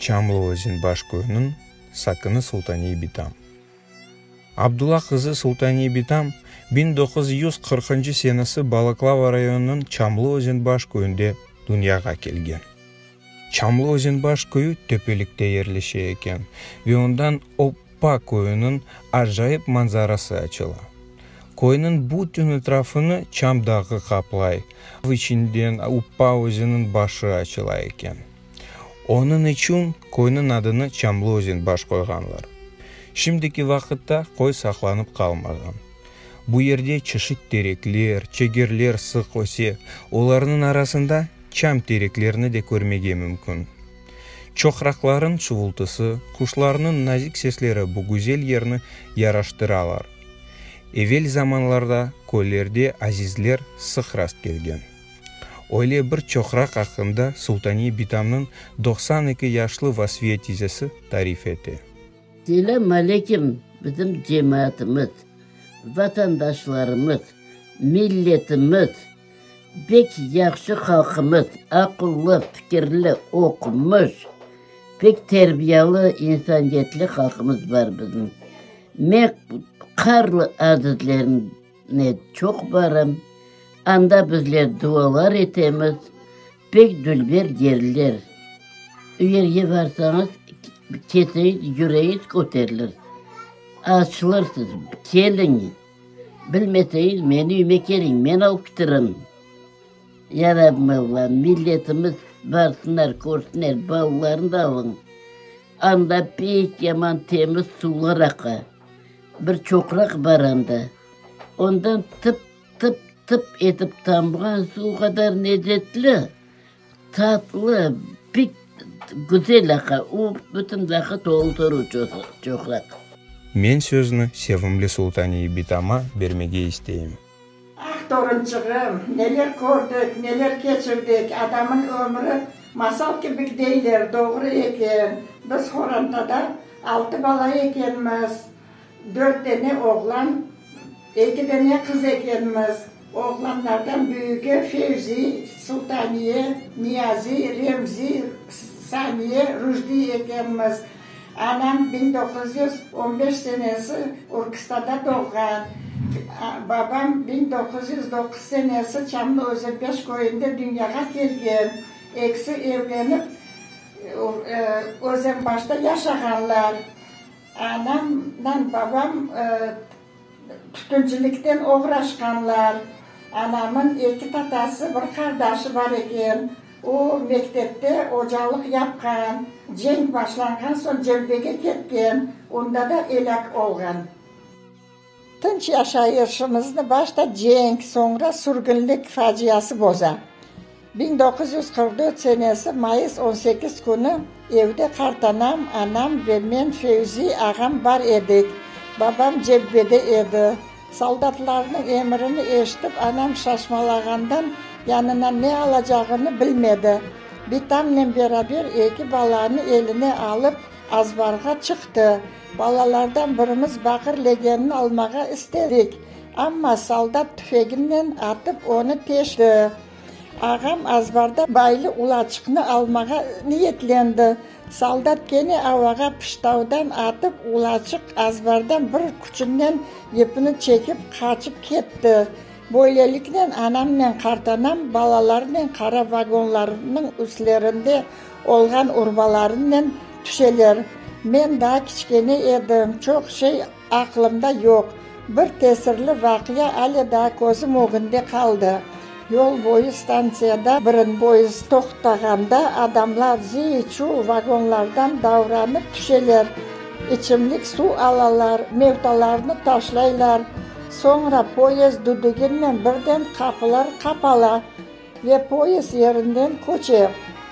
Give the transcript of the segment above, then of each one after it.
Çamlıozen baş köyüniñ sakini Sultaniye Bitam. Abdulla qızı Sultaniye Bitam biñ doquz yüz qırqıncı senesi Balaklava rayonınıñ Çamlıozen baş köyünde dünyağa kelgen. Çamlı Özenbaş köyü töpelikte yerleşe eken ve ondan Oppa köyüniñ acayip manzarası açıla. Köyniñ bütün etrafını Çam dağı qaplay, av içinden Oppa özeniñ başı açıla eken. Onıñ içün köyniñ adını Çamlı Özenbaş qoyğanlar. Şimdiki vaqıtta köy saqlanıp qalmağan. Bu yerde çeşit terekler, çegerler sıq öse, olarnıñ arasında, çam tereklerini de körmege mümkün. Çoqraqlarnıñ çuvultısı, quşlarnıñ nazik sesleri bu güzel yerni yaraştıralar. Evel zamanlarda köylerde azizler sıq rast kelgen. Öyle bir çoqraq aqqında Sultaniye Bitamnıñ doqsan eki yaşlı Vasfiye tizesi tarif ete. Selâm alekim, bizim cemaatımız, vatandaşlarımız, milletimiz! Pek yahşı halqımız, aqıllı, fikirli, oqumış, pek terbiyalı, insaniyetli halqımız bar bizim. Men Qarlı azizlerine çoq barım, anda bizler dualar etemiz, pek dülber yerler. O yerge barsañız, keseyiz, yüreyiz köterilir, açılırsız, keliñ. Bilmeseñiz, meni üyme keliñ, men alıp kitirim. Yarabmız bar, milletimiz, barsınlar, körsünler, balalarını da alıñ. Anda pek yaman temiz suvlar aqa. Bir çoqraq bar anda. Ondan tıp-tıp-tıp etip tamğan suv qadar necetli. Tatlı, pek güzel aqa, o bütün vaqıt oldurı çoqraq. Men sözni sevimli Sultaniye bitama bermege isteyim. Ah, torunçığım, neler kördik, neler keçirdik, adamın ömri masal kibik deyler, doğru eken, biz Xorantada altı bala ekenmiz. Dört dene oğlan, eki dene qız ekenmiz. Oğlanlardan büyügi Fevzi, Sultaniye, Niyazi, Remzi, Saniye, Rujdi ekenmiz. Anam biñ doquz yüz on beş senesi Urkıstada doğğan, babam biñ doquz yüz doquz senesi Çamlı Özenpeş köyünde dünyağa kelgen. Ekisi evlenip, Özenbaşta yaşağanlar. Anam nam babam tütüncilikten oğraşqanlar. Anamın eki tatası, bir qardaşı bar eken. O, mektepte ocalıq yapqan. Cenk başlanğan soñ cebhege ketken, onda da elâk olğan. Tınç yaşayışımıznı başta cenk, soñra sürgünlik faciası boza. Biñ doquz yüz qırq dört senesi mayıs on sekiz künü evde qartanam, anam ve men Fevzi ağam bar edik. Babam cebbede edi. Soldatlarnıñ emirini eşitip, anam şaşmalağandan yanına ne alacağını bilmedi. Bitamnen beraber eki balanı eline alıp, azbarğa çıqtı. Balalardan birimiz baqır legenini almağa istedik, amma soldat tüfeginnen atıp onı teşti. Ağam azbarda baylı ulaçıqnı almağa niyetlendi. Soldat kene avağa pıştavdan atıp, ulaçıq azbardan bir küçünnen ipni çekip, qaçıp ketti. Böyleliknen anamnen qartanam balalarnen qara vagonlarnıñ üstlerinde Olğan urmalarınen tüşeler. Men daa kiçkene edim, çoq şey aqlımda yoq. Bir tesirli vaqia ale daa közüm ögünde qaldı. Yol boyu stantsiyada birin poezd toqtağanda adamlar cıy-çuy vagonlardan davranıp tüşeler, içimlik suv alalar, mevtalarnı taşlaylar. Soñra poezd düdüginen birden qapılar qapala. Ve poyezd yerinden köçev.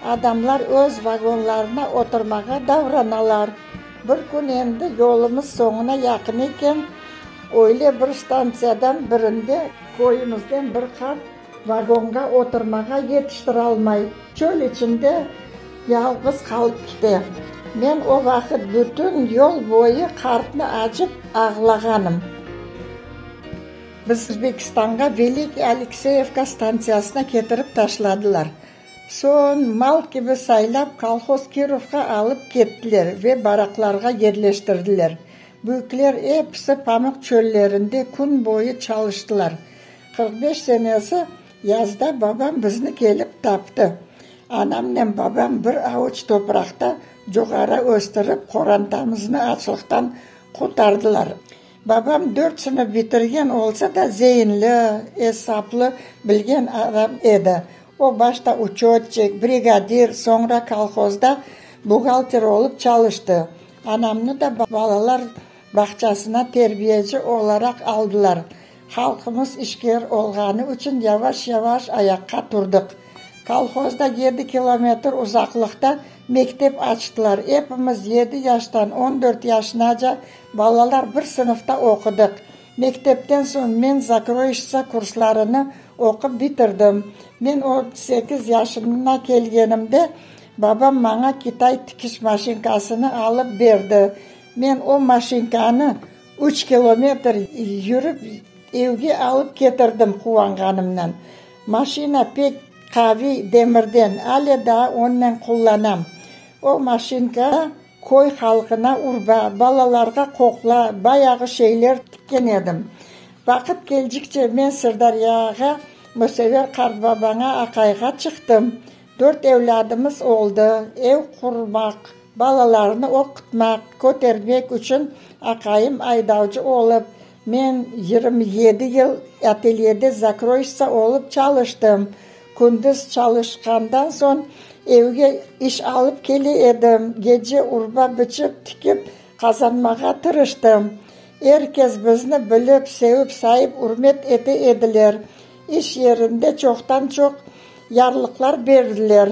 Adamlar öz vagonlarına oturmağa davranalar. Bir kün endi yolumız soñuna yaqın eken, öyle bir stantsiyadan birinde. Köyümizden bir qart vagonğa oturmağa yetiştiralmay, çöl içinde yalğız qalıp kite. Men o vaqıt bütün yol boyu qartnı acıp ağlağanım. Biz Özbekistanğa Velikiy Alekseyevka stantsiyasına ketirip taşladılar. Soñ, mal kibi saylap, kolhoz Kirovğa alıp kettiler ve baraklarğa yerleştirdiler. Büyükler episi pamuq çöllerinde kün boyu çalıştılar. Qırq beş senesi yazda babam bizni kelip taptı. Anamnen babam bir avuç topraqta cugara östürip, qorantamıznı açlıqtan qurtardılar. Babam dört sınıf bitirgen olsa da, zeinli, esaplı, bilgen adam edi. O, başta uçotçik, brigadir, soñra kolhozda buğalter olıp çalıştı. Anamnı da balalar bağçasına terbiyeci olaraq aldılar. Halqımız işker olğanı içün yavaş-yavaş ayaqqa turdıq. Kolhozda yedi kilometr uzaqlıqta mektep açtılar. Epimiz yedi yaştan on dört yaşınaca Balalar bir sınıfta oqudıq. Mektepten soñ men zakroyıştsa kurslarını oqup bitirdim. Men on sekiz yaşına kelgenimde babam maña kitay tikiş maşinkasını alıp berdi. Men o maşinkanı üç kilometr yürip evge alıp ketirdim quvanğanımnan. Maşina pek qaviy, demirden, ale daa onnen qullanam. O maşinka Köy halqına urba, balalarğa qoqla, bayağı şeyler tikken edim. Vaqıt keldikçe men Sırdâryağa, Musever qartbabaña aqayğa çıqtım. Dört evladımız oldı. Ev qurmaq, balalarnı oqutmaq, kötermek içün aqayım aydavcı olıp, men yirmi yedi yıl atelyede zakroyştsa olıp çalıştım. Kündüz çalışqandan soñ, evge iş alıp kele edim, gece urba biçip, tikip qazanmağa tırıştım. Er kes bizni bilip, sevip, sayıp, ürmet ete ediler. İş yerinde çoqtan-çoq yarlıqlar berdiler.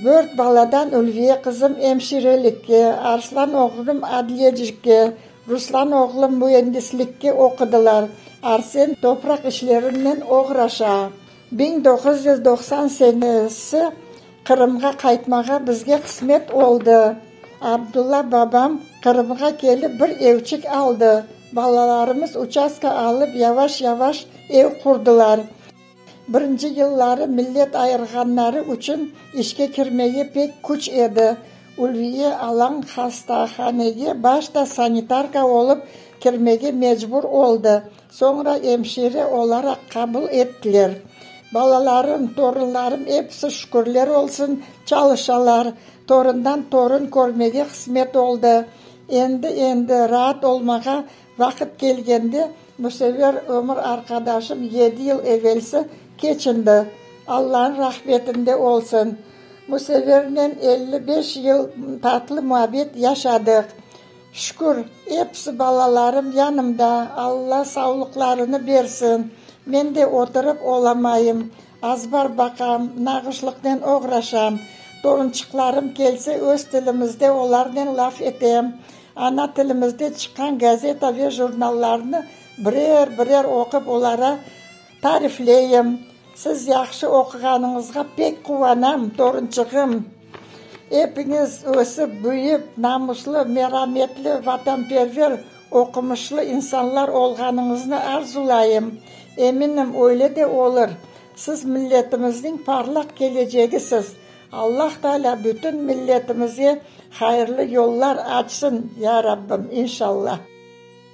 Dört baladan Ülviye qızım emşirelikke, Arslan oğlum adliyecikke, Ruslan oğlum müendislikke oqudılar, Arsen topraq işlerinen oğraşa. Biñ doquz yüz doqsan senesi Qırımğa qaytmağa bizge qısmet oldı. Abdulla babam Qırımğa kelip bir evçik aldı. Balalarımız uçastka alıp yavaş-yavaş ev qurdılar. Birinci yılları millet ayırğanları içün işke kirmege pek küç edi. Ulviye Alañ hastahanege başta sanitarka olıp kirmege mecbur oldı. Soñra emşire olaraq qabul ettiler. Balalarım, torunlarım episi, şükürler olsun, çalışalar. Torundan torun körmege qısmet oldı. Endi, endi raat olmağa vaqıt kelgende, müsever ömür arqadaşım yedi yıl evelsi keçindi. Allanıñ rahmetinde olsun. Müsevernen elli beş yıl tatlı muabbet yaşadıq. Şükür, episi balalarım yanımda, Alla savlıqlarını bersin. Men de oturıp olamayım, azbar baqam, nağışlıqnen oğraşam. Torunçıqlarım kelse, öz tilimizde olarnen laf etem. Ana tilimizde çıqqan gazeta ve jurnallarnı birer-birer oqup, olara Tarifleyim. Siz yahşı oquğanıñızğa pek quvanam, torunçığım. Epiñiz ösip, büyüp, namuslı, merametli, vatanperver, oqumışlı insanlar olğanıñıznı arzulayım. Eminim, öyle de olur. Siz milletimizniñ parlaq kelecegisiz. Allah Taalâ bütün milletimizge hayırlı yollar açsın, ya Rabbim, inşallah.